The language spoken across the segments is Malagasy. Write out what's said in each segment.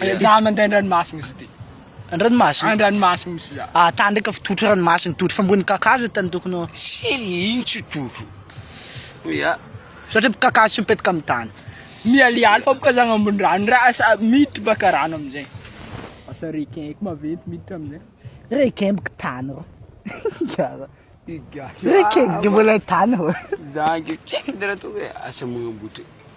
Any za mandeha an-dranomasina izy ty. An-dranomasina? An-dranomasina misy za. Ah, tany ndraika fitotro ranomasina, totro fambony kakazo tany tokony ho. Sely iny tsy totro. Mia. Satria kakazo tsy mipetraka amin'ny tany. Mialialy fa boka zagny ambony rano ndra asa miditra baka rano amin'izay. Asa requin ko maventy miditra amin'izay. Requin boka tany rô. Gara. Requin boka mbola tany rô. Zagny tsy haiko ndra toa hoe asa magnambotra.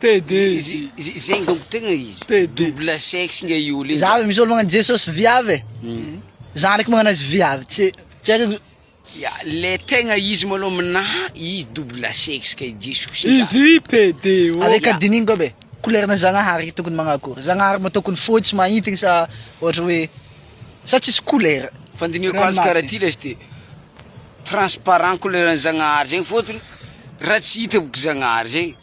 PD izy. Zegny donc tegna izy. PD. Double sexe nga io olona io. Za misolo magnano Jesosy viavy e, za ndraiky magnano azy viavy tsy tsy haiko ny. Ya, le tegna izy malôha aminà izy double sexe ka i Jesosy e. Izy PD ô. Avec a dinigny koa be, couleur-na Zagnahary tokony magnano akôry? Zagnahary moa tokony fotsy mahintigny sa ôhatra hoe sa tsisy couleur? Fandinihako azy karaha ty lesy ty. Transparent koleran'i Zagnahary zegny fôtony raha tsy hita boka Zagnahary zegny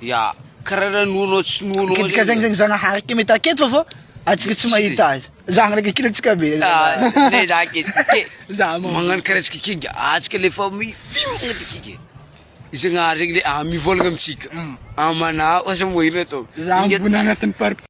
ya karaha raha noanao tsy noanao zegny. Kidika zegny zegny Zagnahary ke mety aketo fa fô antsika tsy mahita azy. Zah ndraiky kida antsika be. Ne zah ke ke magnano karaha antsika ke ngia antsika le fa mifimagna ty ke ke. Zagnahary zegny le mivôlagna amintsika amanao aza moa ino atao.